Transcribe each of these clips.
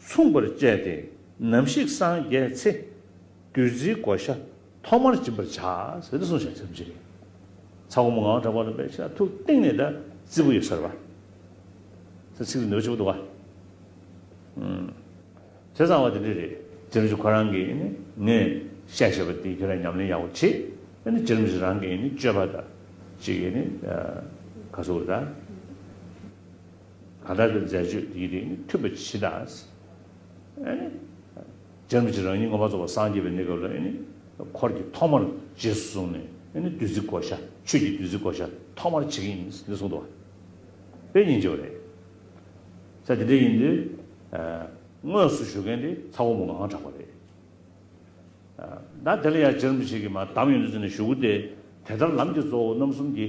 མཚུངས་པར་བཅས་ཏེ་ནམ་ཞིག་སངས་རྒྱས་ཚེ། བདུད་རྩིའི་བགོ་བཤའ་ཐོག་མར་སྦྱིན་པར་བྱ། ཟེར་ཏེ་གསུངས་བྱ། ཚ་བུ་མོ་ངང་དྲག་པ་ལ་འབད་བྱ་ཐུགས་གཏིང་ནས་བཟླ། རྩི་བུ་ཡོད་སར་བ། ཚེ་ཚིག་ཏུ་ནུས་པ་བྱེད་པོ་འདུག། ཚེ་བཟང་བ་དེ་འདྲས་རེད། རྗེ་རིན་ཆེན་ཁོ་རང་གིས་ནི་ངས་བཤད་བྱས་པ་འདི་ཁྱོད་རང་ཉམས་ལེན་ཡག་པོ་བྱེད། ཨ་ནི་རྗེ་རིན་པོ་ཆེ་རང་གིས་ནི་སྤྱོད་པ་དང་གཅིག་གིས་ནི་ག་སོ་བུར་དང། གང་དག་གི་མཛད་སྤྱོད་དེའི་རིགས་ནི་མཐུན་པ་ཇི་ལྟར་ཨེ། སྦྱར་མི་བྱེད་རང་ཉིད་ངོ་བ་རྫོགས་པར་སངས་རྒྱས་པའི་གནས་སྐབས་ལ་ཨེ། འཁོར་གྱི་ཐོག་མར་རྗེས་སུ་བཟུང་ནས་ཨེ་བདུད་རྩི་བགོ་བཤའ་ཆོས་ཀྱི་བདུད་རྩི་བགོ་བཤའ་ཐོག་མར་བྱེད་ཀྱི་ཡིན་ནི་གསུངས་འདུག་བ། པའི་ཉིན་བྱེད་པ་རེད། ས་དེ་འདྲ་ཡིན་དུས། དངོས་སུ་ཞུ་མཁན་དེ་ཚ་བོ་མོ་ངང་གྲགས་པ་རེད། ད་དེ་ལ་ཡང་སྦྱར་མི་བྱེད་ཀྱི་མ་གདམས་ཡོད་དུས་ཟེར་ནས་ཞུ་དགོས་ཏེ། དེ་ལྟར་ལམ་གྱི་གཙོ་བོ་རྣམ་གསུམ་གྱི།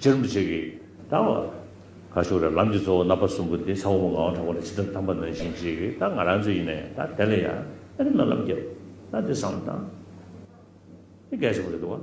ཅིར་མི་བྱེད་ཀྱི། ད་བ། ཁ་ཤོར་རེད་ལམ་གྱི་གཙོ་བོ་རྣམ་པ་གསུམ་པོ་འདི་ཚ་བོ་མོ་ངག་དབང་དྲག་པོ་ལ་ཇི་ལྟར་དམ་པ་ནོན་བཞིན་བྱེད་ཀྱི་ད་ང་རང་ཚོ་ཡིན་ནས་ད་དེ་ལ་ཡ་ཨ་རི་ལ་ལམ་རྒྱབ་ད་འདི་བསམ་ད། འདི་འགལ་ཆེན་པོ་རེད་འདུག་བ།